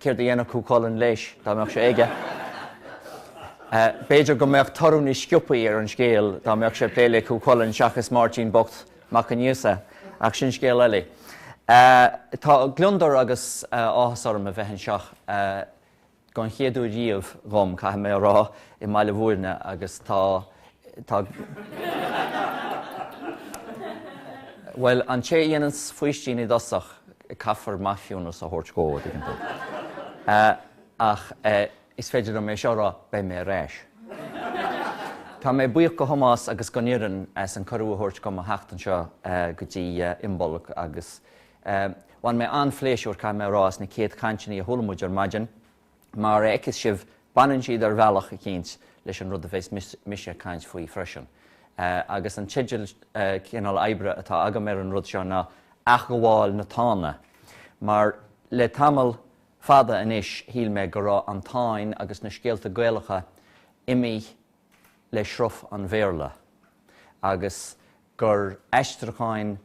Céard a dhéanfadh Cú Chulainn leis dá mbeadh sé aige? B'fhéidir go mbeadh toradh níos sciobthaí ar an scéal dá mbeadh sé ag plé le Cú Chulainn seachas Máirtín bocht Mac Aonghusa, ach sin scéal eile. Tá gliondar agus áthas orm a bheith anseo den chéad uair riamh dhom, caithfidh mé a rá, i mBaile Mhúirne agus tá, tá, bhuel, an té a dhéananns faoistín i dtosach, caithfear maithiúnas a thabhairt dhó, an dtuigeann tú. Ach is féidir liom é seo a rá, beidh mé ar ais. Tá mé buíoch de Thomás agus den fhoireann as an cuireadh a thabhairt dhom a theacht anseo go dtí Imbolc agus bhain mé an-phléisiúr, caithfidh mé a rá, as na céad chainteanna a chuala muid ar maidin. mar a fheiceas sibh, baineann siad ar bhealach eicínt leis an rud a bheas mise ag caint faoi freisin. Agus an teideal cineál oibre atá agam ar an rud seo ná Athghabháil na Tána, mar le tamall fada anois shíl mé go raibh an Táin agus na scéalta Gaelacha imithe le sruth an Bhéarla agus gur aistriúcháin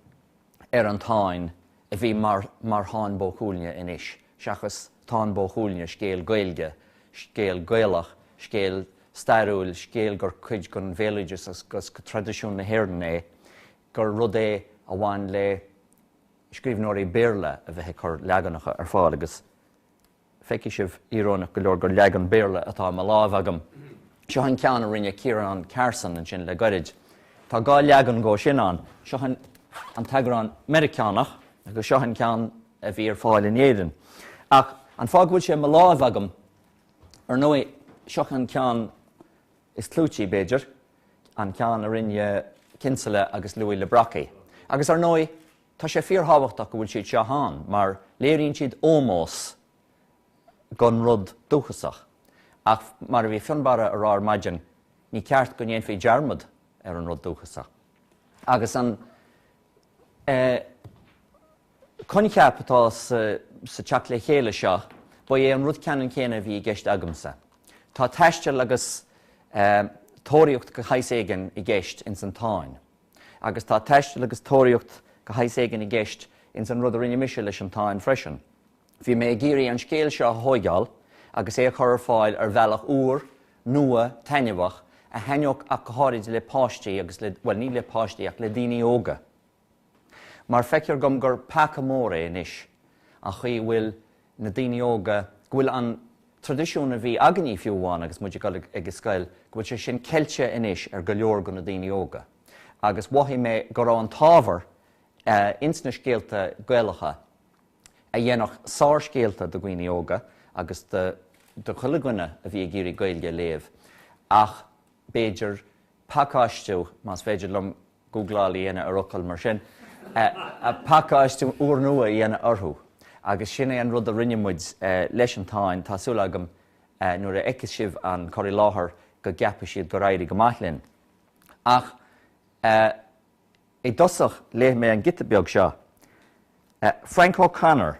ar an Táin a bhí mar Tháin Bó Cuailgne anois seachas Táin Bó Chuailgne, scéal Gaeilge, scéal Gaelach, scéal stairiúil, scéal gur cuid den bhéaloideas agus de thraidisiún na hÉireann é, gur rud é a bhain le scríbhneoirí Béarla a bheith ag cur leaganacha ar fáil agus. Feicfidh sibh, íoróineach go leor, gur leagan Béarla atá i mo láimh agam. Seo an ceann a rinne Ciarán Carson ansin le gairid. Tá dhá leagan dhó sin ann, seo an t-eagrán Meiriceánach agus seo an ceann a bhí ar fáil in Éirinn. Ach an fáth go bhfuil sé i mo láimh agam, ar ndóigh, seo an ceann is clúití, b'fhéidir, an ceann a rinne Kinsella agus Louis le Brocquy. Agus, ar ndóigh. Tá sé fíorthábhachtach go bhfuil siad seo ann mar léiríonn siad ómós don rud dúchasach. Ach mar a bhí Fionnbarra a rá ar maidin, ní ceart go ndéanfaí dearmad ar an rud dúchasach. Agus an coincheap atá sa teacht le chéile seo, ba é an rud ceannann céanna a bhí i gceist agamsa. Tá taisteal agus tóraíocht de shaghas éigin i gceist ins an Táin. agus tá taisteal agus tóraíocht de shaghas éigin i gceist ins an rud a rinne mise leis An Táin freisin. Bhí mé ag iarraidh an scéal seo a thóigeáil agus é a chur ar fáil ar bhealach úr, nua, taitneamhach, a thaitneodh ach go háirid le páistí agus le, bhuel, ní le páistí ach le daoine óga. Mar feictear dhom gur peaca mór é anois an chaoi a bhfuil na daoine óga, go bhfuil an, traidisiún a bhí againní fiú amháin agus muid ag dul ag scoil, go bhfuil sé sin ceilte anois ar go leor de na daoine óga agus mhothaigh mé go raibh an t-ábhar ins na scéalta Gaelacha a dhéanfadh sárscéalta do dhaoine óga agus do chuile dhuine a bhí ag iarraidh Gaeilge a léamh ach b'fhéidir pacáistiú, más féidir liom gúgláil a dhéanamh ar fhocail mar sin, pacáistiú úrnua a dhéanamh orthu, agus sin é an rud a rinne muid leis an Táin, tá súil agam nuair a fheiceas sibh an cur i láthair go gceapfaidh siad gur éirigh go maith linn. Ach i dtosach léifidh mé an giota beag seo, Frank O'Connor,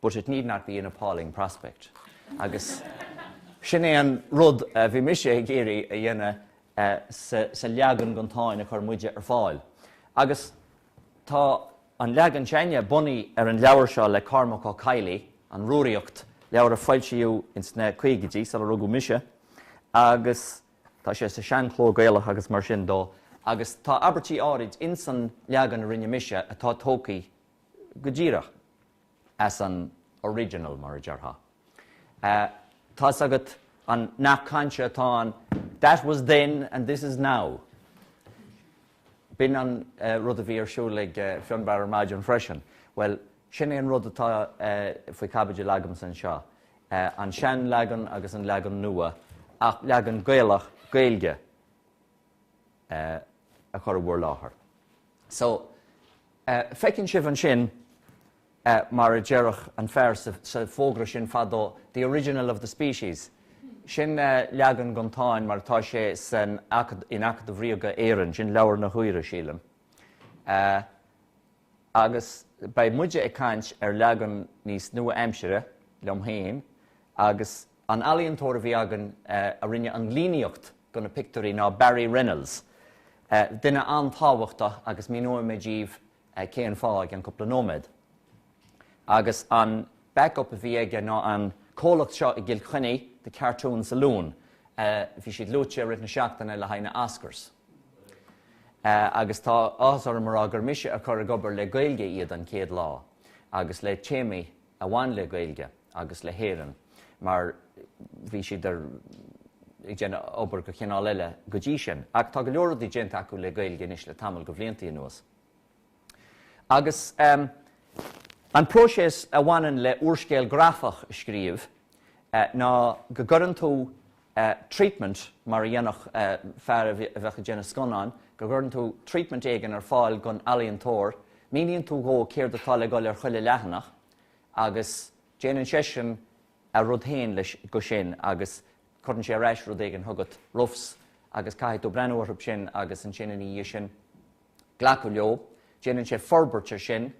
but it need not be an appalling prospect. Agus sin é an rud a bhí mise ag iarraidh a dhéanamh sa leagan den Táin a chuir muide ar fáil. Agus tá an leagan s'ainne bunaithe ar an leabhar seo le Cormac Ó Cadhlaigh, An Rúraíocht, leabhar a foilsíodh ins na caogaidí, sular rugadh mise, agus tá sé sa seanchló Gaelach agus mar sin de. Agus tá abairtí áirid ins an leagan a rinne mise atá tógtha go díreach as an original, mar a déarfá. Tá's agat an nath cainte atá ann, That was then and this is now. B'in an rud a bhí ar siúl ag Fionnbarr ar maidin freisin. Bhuel, sin é an rud atá faoi chaibidil agamsa anseo, an seanleagan agus an leagan nua, ach leagan Gaelach, Gaeilge, a chur i bhur láthair. So, feiceann sibh ansin, mar a déarfadh an fear sa bhfógra sin fadó, the original of the species. Sin leagan den Táin mar atá sé in Acadamh Ríoga Éireann, sin Leabhar na hUidhre, sílim. Agus beidh muide ag caint ar leagan níos nua-aimsire, liom héin, agus An ealaíontóir a bhí againn a rinne an líníocht do na pictiúirí ná Barry Reynolds, duine an-tábhachtach agus míneoidh mé díbh cén fáth i gceann cúpla nóiméad. Agus an back-up a bhí aige ná an comhlacht seo i gCill Chainnigh, The Cartoon Saloon. Bhí siad luaite i rith na seachtaine le haghaidh na Oscars. Agus tá áthas orm a rá gur mise a chur ag obair le Gaeilge iad an chéad lá, agus le téamaí a bhain le Gaeilge agus le hÉireann mar bhí siad ag déanamh obair go chineál eile go dtí sin. Ach tá go leor rudaí déanta acu le Gaeilge anois le tamall go bhliantaí anuas. Agus an próiséas a bhaineann le úrscéal grafach a scríobh ná go gcuireann tú treatment mar a dhéanfadh fear a bheadh ag déanamh scannáin, go gcuireann tú treatment éigin ar fáil don ealaíontóir, míníonn tú dhó céard atá le dul ar chuile leathanach agus déanann seisean a rud féin go sin agus cuireann sé ar ais rud éigin chugat, roughs, agus caithfidh tú breathnú orthu sin agus ansin ina dhiaidh sin glacadh leo. Déanann sé forbairt air sin.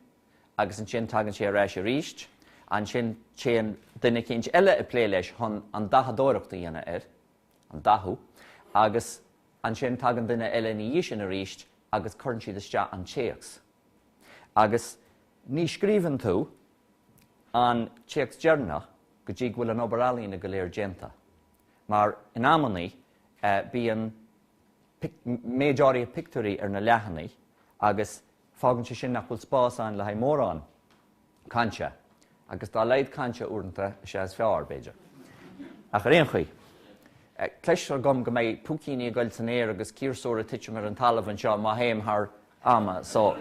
agus ansin tagann sé ar ais arís, ansin téann duine eicínt eile ag plé leis chun an dathadóireacht a dhéanamh air, an dathú, agus ansin tagann duine eile ina dhiaidh sin aríst agus cuireann siad isteach an téacs. Agus ní scríobhann tú an téacs deireanach go dtí go bhfuil an obair ealaíne go léir déanta. Mar in amannaí bíonn méid áirithe pictiúirí ar na leathanaigh agus Fágann sé sin nach bhfuil spás ann le haghaidh mórán cainte, agus dá laghad cainte uaireanta is ea is fearr, b'fhéidir. Ach ar aon chaoi, clois agam go mbeidh púicíní ag goil san aer agus ciarsúir ag titim ar an talamh anseo má théim thar am, so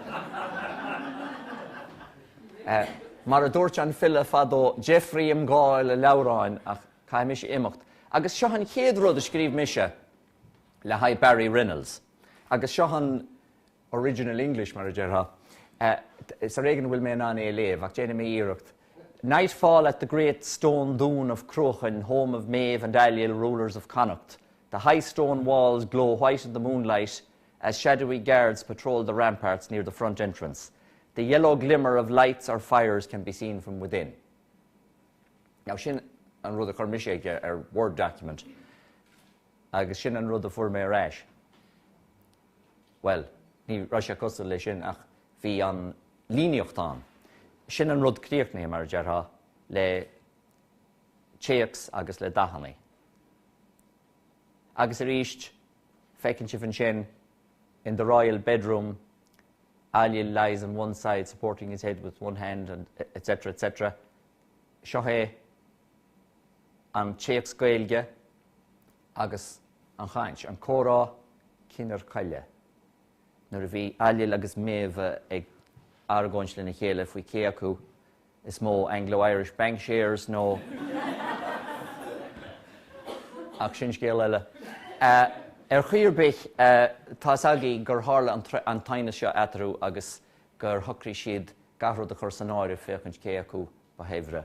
mar a dúirt an file fadó, deifrigh im dháil a leabhráin ach caithfidh mise imeacht. Agus seo an chéad rud a scríobh mise le haghaidh Barry Reynolds, agus seo an. original English, mar a déarfá. Is ar éigean a bhfuil mé in ann é a léamh, ach déanfaidh mé iarracht. Nightfall at the great stone dún of Cruachain, home of Méabh and Ailill, rulers of Connacht. The high stone walls glow white in the moonlight as shadowy guards patrol the ramparts near the front entrance. The yellow glimmer of lights or fires can be seen from within. Now sin an rud a chuir mise chuige ar Word document agus sin an rud a fuair mé ar ais. Bhuel, ní raibh sé cosúil leis sin ach bhí an líníocht ann. Sin an rud críochnaithe, mar a déarfá, le téacs agus le dathannaí. Agus aríst, feiceann sibh ansin, 'In the royal bedroom, Ailill lies on one side supporting his head with one hand and etc etc. Seo é an téacs Gaeilge. agus an chaint, an comhrá cinn chearchaille, nuair a bhí Ailill agus Méabh ag argóint lena chéile faoi cé acu is mó, Anglo-Irish Bank Shares nó ach sin scéal eile. Ar chaoi ar bith, tá's agaí gur tharla an t-aighneas seo eatarthu agus gur shocraigh siad gach rud a chur san áireamh féachaint cé acu ba shaibhre.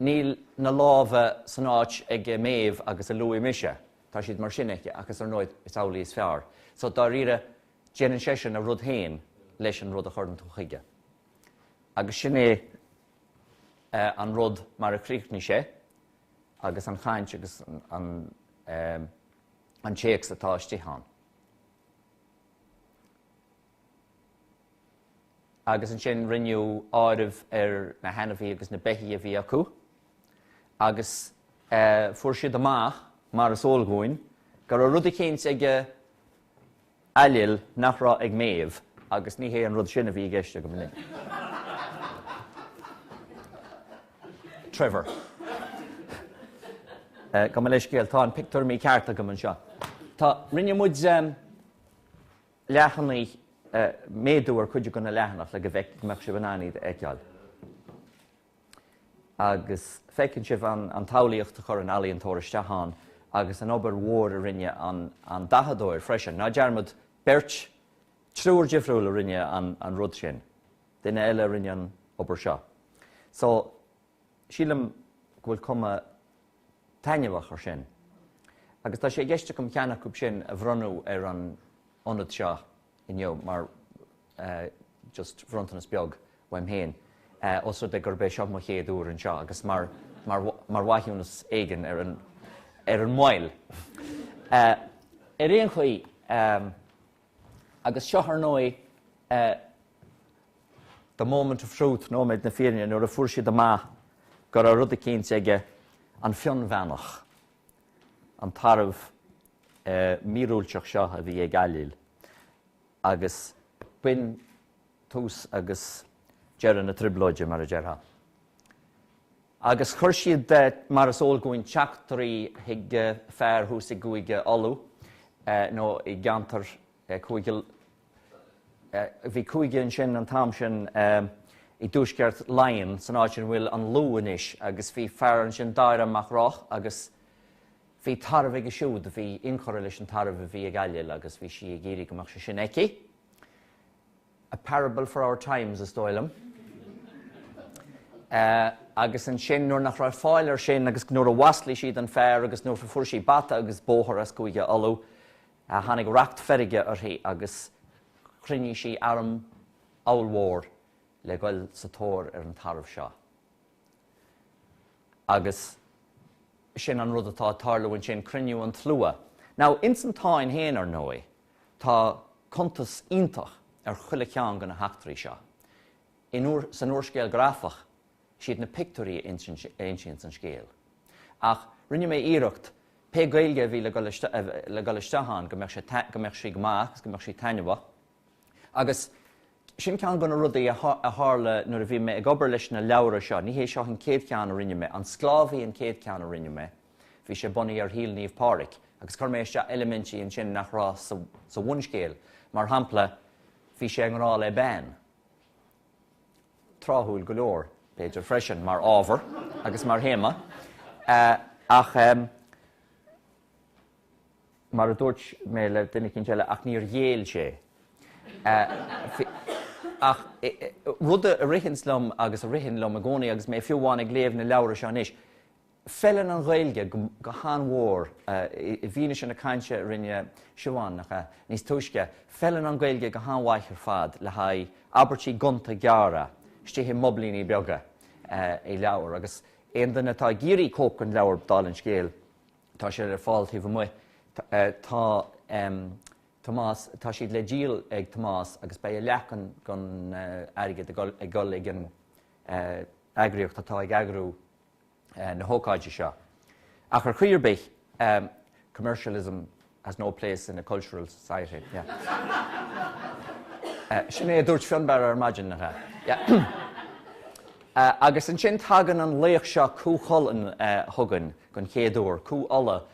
Níl na lámha san áit ag Méabh agus a luaigh mise. Tá siad mar sin aici, agus ar ndóigh, is amhlaidh is fearr. So, dáiríre, déanann seisean a rud féin leis an rud a chuireann tú chuige. Agus sin é an rud mar a chríochnaigh sé agus an chaint agus an téacs atá istigh ann. agus ansin rinneadh áireamh ar na hainmhithe agus na beithígh a bhí acu agus fuair siad amach, mar is eol dhúinn, go raibh rud eicínt ag Ailill nach raibh ag Méabh agus ní hé an rud sin a bhí i gceist. Trevor. Gabh mo leithscéal, tá an pictiúr mícheart agam anseo. Tá, rinne muid. leathanaigh, méadú ar chuid de na leathanaigh le go mbeadh sibh in ann iad a fheiceáil agus feiceann sibh an tsamhlaíocht a chuir an ealaíontóir isteach ann agus an obair mhór a rinne an dathadóir freisin. Ná dearmad, beirt, triúr difriúil a rinne an rud sin. Duine eile a rinne an obair seo. So, sílim go bhfuil cuma taitneamhach ar sin agus tá sé i gceist agam ceann acu sin a bhronnadh ar an ionad seo inniu mar just bronntanas beag uaim féin os rud é gurb é seo mo chéad uair anseo agus mar mar mhaithiúnas éigin ar an ar an moill. Ar aon chaoi, Agus seo, ar ndóigh, the moment of truth, nóiméad na fírinne, nuair a fuair siad amach go raibh rud eicínt aige, an Fionnbheannach, an tarbh míorúilteach seo a bhí ag Ailill. Agus b'in tús agus deireadh na trioblóide, mar a déarfá. Agus chuir siad, mar is eol dhúinn, teachtairí chuig fear thuas i gCúige Uladh, nó i gceantar cúige, bhí cúige ansin an t-am sin i dtuaisceart Laighean, san áit ina bhfuil an Lú anois, agus bhí fear ansin, Dáire Mac Roth, agus bhí tarbh aige siúd a bhí inchurtha leis an tarbh a bhí ag Ailill agus bhí sí ag iarraidh go mbeadh sé sin aici. A parable for our times, is dóigh liom. Agus ansin nuair nach raibh fáil air sin agus nuair a mhaslaigh siad an fear agus nuair a fuair sí bata agus bóthar as Cúige Uladh, tháinig racht feirge uirthi agus chruinnigh sí arm ollmhór le goil sa tóir ar an tarbh seo. Agus sin an rud atá ag tarlú ansin, cruinniú an tslua. Now, ins an Táin féin, ar ndóigh, Tá cuntas iontach ar chuile cheann de na heachtraí seo. San úrscéal grafach, is iad na pictiúirí a insíonn an scéal. Ach rinne mé iarracht, pé Gaeilge a bhí le dhul isteach ann, go mbeadh sí go maith agus go mbeadh sí taitneamhach. Agus sin ceann de na rudaí a tharla nuair a bhí mé ag obair leis na leabhra seo. Ní hé seo an chéad cheann a rinne mé, An Sclábhaí an chéad cheann a rinne mé. Bhí sé bunaithe ar shaol Naomh Pádraig agus chuir mé isteach eilimintí ansin nach raibh sa bhunscéal, mar shampla, bhí sé i ngrá le bean, tráthúil go leor, b'fhéidir freisin, mar ábhar agus mar théama, ach, mar a dúirt mé le duine eicínt eile, ach níor ghéill sé. Ach, rud a ritheanns liom agus a ritheann liom i gcónaí agus mé fiú amháin ag léamh na leabhra seo anois, Feileann an Ghaeilge go han-mhór, i bhfianaise na cainte a rinne Siobhán, nach ea? níos túisce, feileann an Ghaeilge go han-mhaith ar fad le haghaidh abairtí gonta gearra istigh i mboblaíní beaga i leabhar agus aon duine atá ag iarraidh cóip den leabhar, dála an scéil, tá sé ar fáil taobh amuigh, tá Tomás, tá siad le díol ag Tomás agus beidh a leath den airgead ag dul ag an eagraíocht atá ag eagrú na hócáide seo. Ach ar chaoi ar bith, commercialism has no place in a cultural society, yeah. Sin é a dúirt Fionnbarra ar maidin, nach ea? Yeah. Agus ansin tagann an laoch seo, Cú Chulainn, chugainn den chéad uair, Cú Uladh,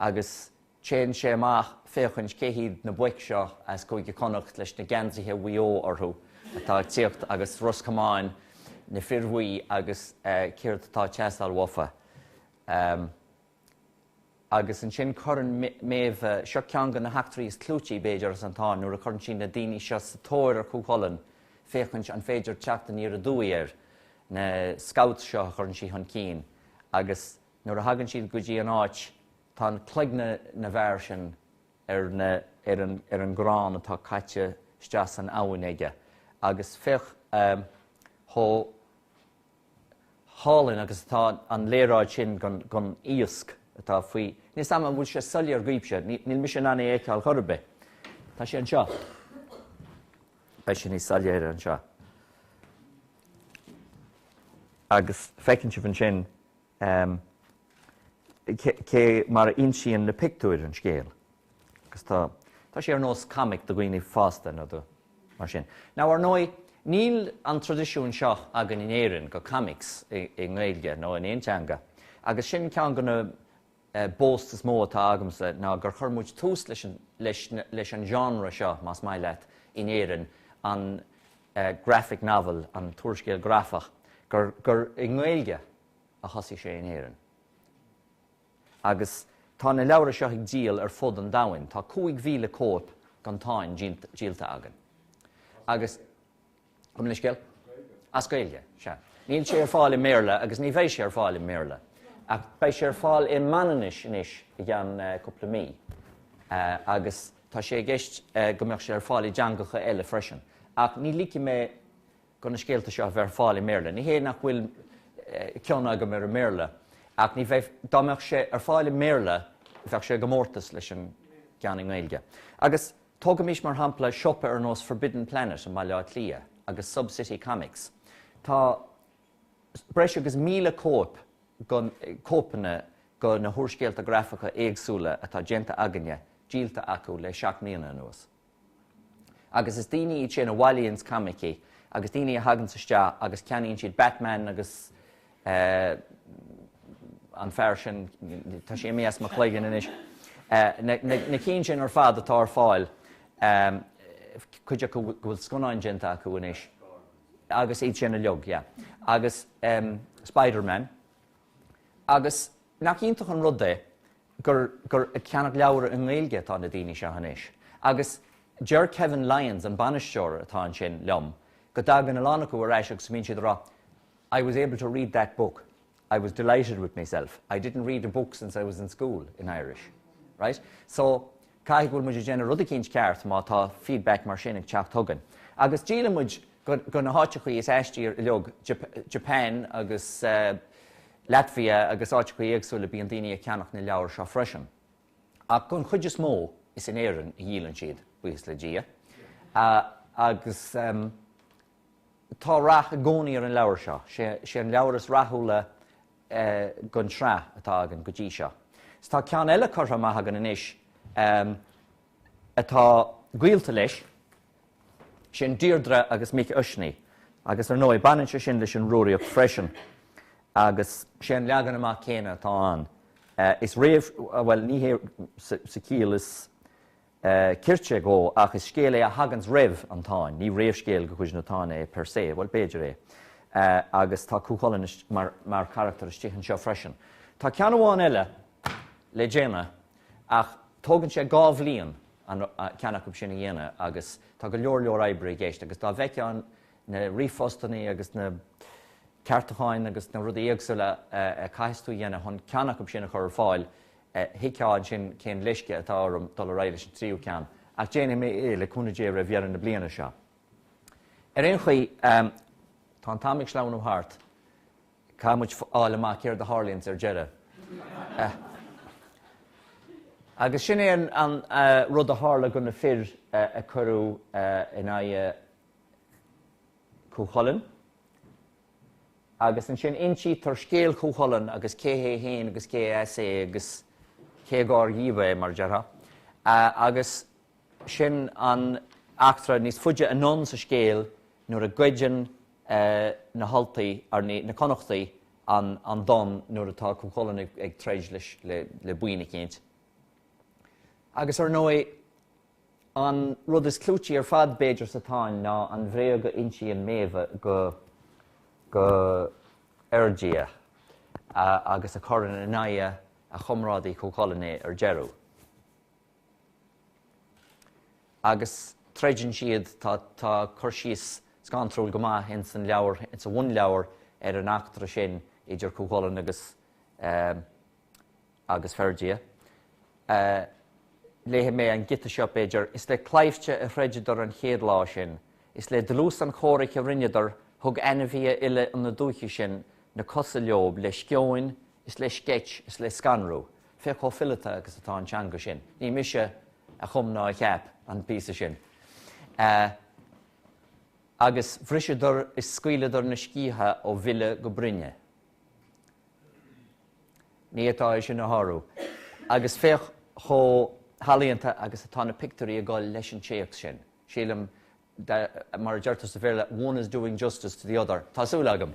agus Téann sé amach ag féachaint cé hiad na boic seo as Cúige Connacht leis na geansaithe Mhaigh Eo orthu atá ag tíocht agus Ros Comáin, na fir bhuí agus céard atá ag teastáil uafa. Agus ansin cuireann Meadhbh, seo ceann de na heachtraí is clúití, b'fhéidir, as an Táin nuair a chuireann sí na daoine seo sa tóir ar Chú Chulainn ag féachaint an féidir teacht aniar aduaidh air, na scouts seo a chuireann sí chun cinn, agus nuair a thagann siad go dtí an áit, Tá cloigne na bhfear sin ar na, ar an, ar an gcrann atá caite isteach san abhainn aige agus féach chomh hálainn agus atá an léaráid sin den, den iasc atá faoi, níl 's a'm an bhfuil sé soiléir dhaoibhse, níl mise in ann é a fheiceáil chor ar bith. Tá sé anseo. Beidh sé níos soiléire anseo. Agus feiceann sibh ansin cé mar a insíonn na pictiúir an scéal agus tá, tá sé ar nós comic do dhaoine fásta nó do. mar sin. Now ar ndóigh, níl an traidisiún seo againn in Éirinn de comics i nGaeilge nó in aon teanga agus sin ceann de na boast is mó atá agamsa ná gur chuir muid tús leis an genre seo, más maith leat, in Éirinn, an graphic novel, an t-úrscéal grafach, gur i nGaeilge a thosaigh sé in Éirinn. Agus tá na leabhra seo ag díol ar fud an domhain, tá 5,000 cóip gon Táin díolta againn. Agus. Chum mé an scéal? As Gaeilge. Sea. Níl sé ar fáil i mBéarla agus ní bheidh sé ar fáil i mBéarla. Ach beidh sé ar fáil i Manainnis anois i gceann cúpla mí. Agus tá sé i gceist go mbeadh sé ar fáil i dteangacha eile freisin. Ach ní ligfidh mé do na scéalta seo a bheith ar fáil i mBéarla. Ní hé nach bhfuil cion agam ar an mBéarla ach ní bheidh, dá mbeadh sé ar fáil i mBéarla bheadh sé i gcomórtas leis an gceann i nGaeilge. Agus Tógaimis mar shampla siopa ar nós Forbidden Planet i mBaile Átha Cliath agus Sub City Comics. Tá breis agus míle cóip, cóipeanna go na húrscéalta grafacha éagsúla atá déanta againne díolta acu le seacht mbliana anuas. Agus is daoine iad sin a bhailíonns coimicí agus daoine a thaganns isteach agus ceannaíonn siad Batman agus, Eh, an fear sin, tá sé imithe as mo chloigeann anois. Eh, na cinn sin ar fad atá ar fáil, eh, cuid acu go bhfuil scannáin déanta acu anois, agus iad sin uilig, yeah. Agus eh, Spiderman. Agus nach iontach an rud é gur, gur ag ceannach leabhar i nGaeilge atá na daoine seo anois. Agus deir Kevin Lyons, an bainisteoir atá ansin, liom go dtagann a lán acu ar ais agus go mbíonn siad ag rá, I was able to read that book, I was delighted with myself, I didn't read a book since I was in school, in Irish. Right? So, caithfidh go bhfuil muid ag déanamh rud eicínt ceart má tá feedback mar sin ag teacht chugainn. Agus díolann muid go na háiteachaí is aistí uilig, Japan agus Latvia agus áiteachaí éagsúla bíonn daoine ag ceannach na leabhar seo freisin. Ach gon chuid is mó is in Éirinn a dhíolann siad, buíochas le Dia. Agus. Tá rath i gcónaí ar an leabhar seo. Sé an leabhar is rathúla gon tsraith atá againn go dtí seo. Tá ceann eile curtha amach againn anois atá gaolta leis, sin Deirdre agus Mic Uisnigh, agus ar ndóigh baineann sé sin leis an Rúraíocht freisin agus sé an leagan amach céanna atá ann. Is réamh, bhuel ní hé sa chiall is. cirte dhó, ach is scéal é a thaganns roimh an Táin. ní réamhscéal de chuid na Táine é per se, bhuel, b'fhéidir é, agus tá Cú Chulainn mar charachtar istigh anseo freisin. Tá ceann amháin eile le déanamh, ach tógann sé dhá bhliain aon cheann acu sin a dhéanamh agus tá go leor leor oibre i gceist, agus dá bhfeicfeá na ríomhphostaí agus na ceartúcháin agus na rudaí éagsúla a chaithfeas tú a dhéanamh chun ceann acu sin a chur ar fáil, thuigfeá ansin cén leisce atá orm dul ar aghaidh leis an tríú ceann, ach déanfaidh mé é, le cúnamh Dé, roimh dheireadh na bliana seo. Ar aon chaoi, tá an t-am ag sleamhnú thart, caithfidh muid fáil amach céard a tharlaíonns ar deireadh. Agus sin é an rud a tharla do na fir a cuireadh in aghaidh Chú Chulainn. agus ansin insítear scéal Chú Chulainn agus cé hé féin agus cé as é agus cé dhár díobh é, mar a déarfá, agus sin an eachtra níos faide anonn sa scéal nuair a ghoideann na hUltaigh, na Connachtaigh an Donn nuair atá Cú Chulainn ag troid leis, le buíon eicínt. Agus, ar ndóigh. An rud is clúití ar fad, b'fhéidir, sa Táin ná an bhréag go n-insíonn Méabh do Fherdia agus a chuireann in aghaidh a chomrádaí Cú Chulainn é ar deireadh. Agus troideann siad, tá cur síos scanrúil go maith ins an leabhar, ins an mbunleabhar, ar an eachtra sin idir Cú Chulainn agus. agus Ferdia. Léifidh mé an giota seo, b'fhéidir, 'Is le claimhte a throideadar an chéad lá sin, Is le dlús an chomhraic a rinneadar, Thug ainmhithe uile na dúiche sin Na cosa leob le sceoin is le sceit is le scanrú. Féach chomh fileata agus atá an teanga sin. Ní mise a chum ná a cheap an píosa sin. Agus bhriseadar is scaoileadar na sciatha ó bhile go broinne. Ní féidir é sin a shárú. Agus féach chomh healaíonta agus atá na pictiúirí ag dul leis an téacs sin. Sílim, mar a deirtear sa Bhéarla, 'one is doing justice to the other', tá súil agam!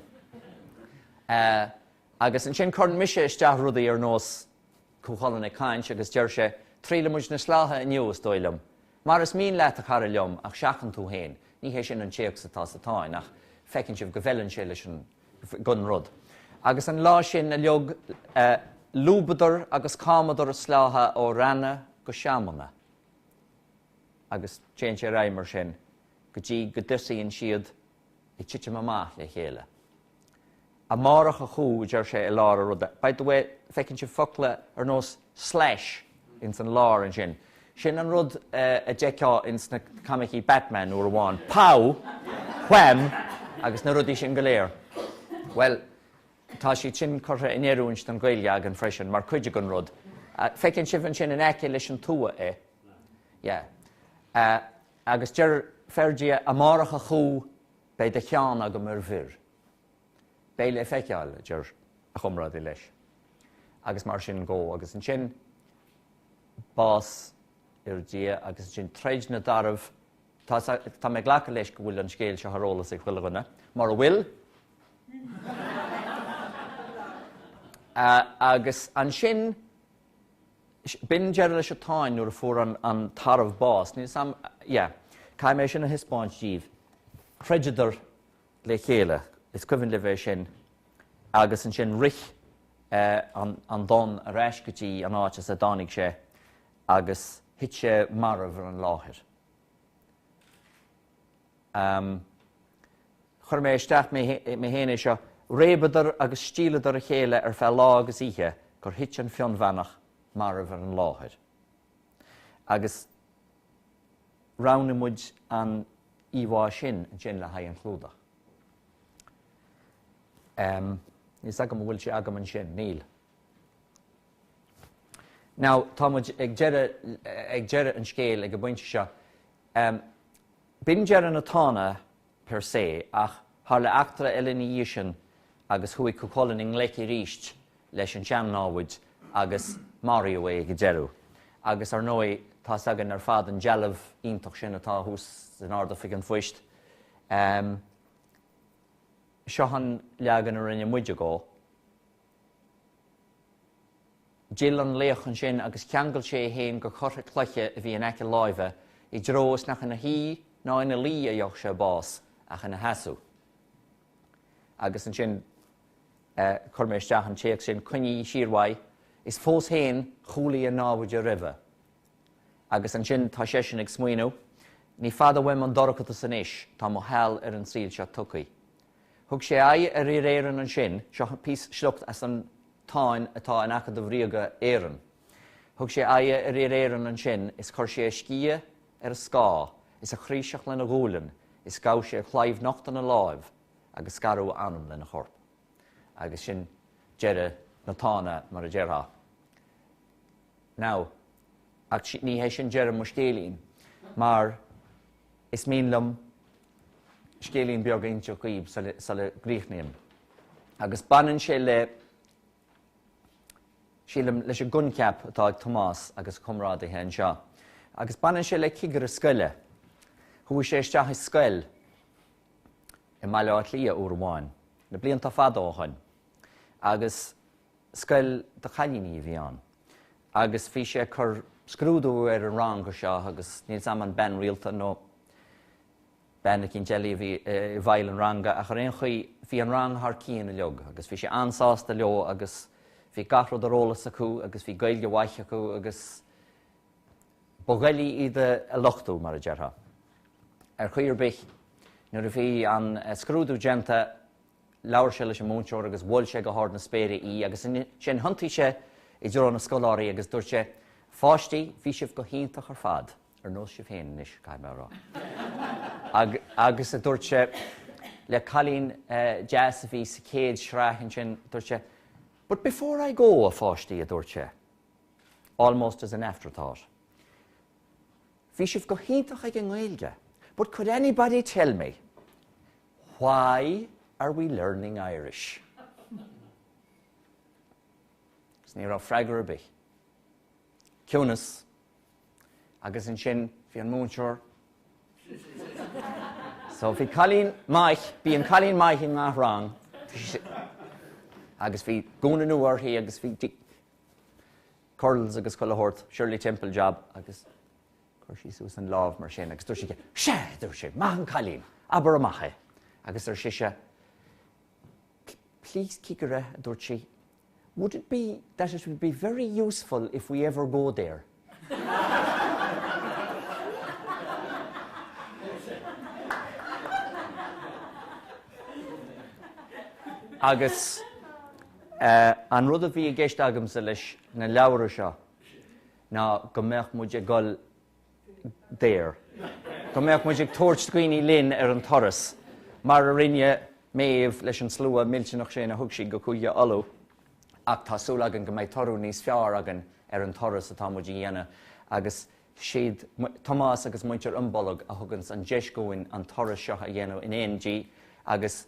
Agus ansin cuireann mise isteach rudaí ar nós, Cú Chulainn ag caint agus deir sé, 'Triaileadh muid na sleátha inniu, is dóigh liom. Mar is mian leat, a chara liom, ach seachain tú féin. Ní hé sin an téacs atá sa Táin ach feiceann sibh go bhfeileann sé leis an don rud. Agus an lá sin a laoigh, lúbadar agus camadar a sleátha ó reanna go seamanna. Agus téann sé ar aghaidh mar sin go dtí go dtosaíonn siad ag titim amach le chéile. Amárach a chú, a deir sé i lár an ruda. By the way, feiceann sibh focla ar nós slash ins an lár ansin. Sin an rud a d'fheicfeá ins na coimicí Batman uair amháin, pow! wham! agus na rudaí sin go léir. Bhuel, tá siad sin curtha in oiriúint don Ghaeilge againn freisin, mar cuid den rud. Feiceann sibh ansin in aice leis an tua é. Yeah. Agus deir Ferdia, Amárach a Chú, beidh do cheann agam ar bhior. beidh le feiceáil, a deir a chomrádaí leis, agus mar sin go, agus ansin bás Fhir Dhia agus ansin troid na dtarbh, tá mé ag glacadh leis go bhfuil an scéal seo ar eolas ag chuile dhuine, mura bhfuil, agus ansin, b'in deireadh leis an Táin nuair a fuair an tarbh bás, níl 's 'am, yeah, caithfidh mé sin a thaispeáint díbh, Throideadar le chéile. Is cuimhin libh é sin. Agus ansin rith an Donn ar ais go dtí an áit as a dtáinig sé agus thit sé marbh ar an láthair. Chuir mé isteach mé féin é seo. Réabadar agus stialladar a chéile ar feadh lá agus oíche gur thit an Fionnbheannach marbh ar an láthair. Agus roghnaigh muid an íomhá sin ansin le haghaidh an chlúdach. Em. Níl 'fhios agam an bhfuil sé agam ansin. Níl. Now, tá muid ag deireadh, ag deireadh an scéil ag an bpointe seo. Em. B'in deireadh na Tána per se, ach tharla eachtra eile ina dhiaidh sin agus chuaigh Cú Chulainn i ngleic arís leis an sean-námhaid agus maraíodh é ag an deireadh. Agus, ar ndóigh, tá's againn ar fad an dealbh iontach sin atá thuas in Ard-Oifig an Phoist. Seo an leagan a rinne muide dhó. D'fhill an laoch ansin agus cheangail sé é féin do choirthe cloiche a bhí in aice láimhe, i dtreo is nach ina shuí ná ina luí a gheobhadh sé bás ach ina sheasamh. Agus ansin chuir mé isteach an téacs sin, Coinnigí siar uaidh, is fós féin chúlaigh a naimhde roimhe. Agus ansin tá seisean ag smaoineamh, Ní fada uaim an dorchadas anois, tá mo sheal ar an saol seo tugtha. Thug sé aghaidh ar fhir Éireann ansin, seo píosa, sliocht as an Táin atá in Acadamh Ríoga na hÉireann, Thug sé aghaidh ar fhir Éireann ansin is chuir sé a sciath ar a scáth is a chraoiseach lena ghualainn is ghabh sé a chlaíomh nocht ina láimh agus scaradh a anam lena chorp. Agus sin deireadh na Tána mar a déarfá. now. Ach ní hé sin deireadh mo scéilín, mar is mian liom scéilín beag a inseacht dhaoibh sula gcríochnaím. Agus baineann sé le, sílim, leis an gcoincheap atá ag Tomás agus a chomrádaithe anseo. Agus baineann sé le cigire scoile. Chuaigh sé isteach i scoil i mBaile Átha Cliath uair amháin, na blianta fada ó shoin, agus, Scoil do chailíní a bhí ann agus bhí sé ag cur scrúdú ar an rang áirithe seo agus níl a fhios agam an bean rialta nó bean eicínt eile a bhí i bhfeighil an ranga ach ar aon chaoi bhí an rang thar cionn uilig agus bhí sé an-sásta leo agus bhí gach rud ar eolas acu agus bhí Gaeilge mhaith acu agus ba dhoiligh iad a lochtú, mar a déarfá. Ar chaoi ar bith nuair a bhí an scrúdú déanta, Labhair sé leis an múinteoir agus mhol sé go hard na spéire í agus ansin thiontaigh sé i dtreo na scoláirí agus dúirt sé, 'Pháistí, bhí sibh go hiontach ar fad, ar nós sibh féin anois, caithfidh mé a rá. Agus, a dúirt sé le cailín deas a bhí sa chéad shraith ansin, dúirt sé, 'But before I go, a pháistí, a dúirt sé, almost as an afterthought, 'bhí sibh go hiontach ag an nGaeilge, but could anybody tell me Why are we learning Irish? Agus ní raibh freagra ar bith. Ciúnas. Agus ansin bhí an múinteoir. So bhí cailín maith, bíonn cailín maith i ngach rang. Agus bhí gúna nua orthaí agus bhí curls agus chuile shórt, Shirley Temple job agus Chuir sí suas an lámh mar sin agus dúirt sé, Sea! a dúirt sé, maith an cailín, abair amach é. Agus ar sise, Please cigire, a dúirt sí, would it be that it would be very useful if we ever go there? Agus eh, an rud a bhí i gceist agamsa leis na leabhra seo, ná go mbeadh muid ag dul there, go mbeadh muid ag tabhairt daoine linn ar an turas, mar a rinne Méabh leis an slua millteanach sin a thug sí go Cúige Uladh, ach tá súil againn go mbeidh toradh níos fearr againn ar an turas atá muid a dhéanamh agus siad Tomás agus muintir Imbolg a thugann an deis dhúinn an turas seo a dhéanamh in éindí agus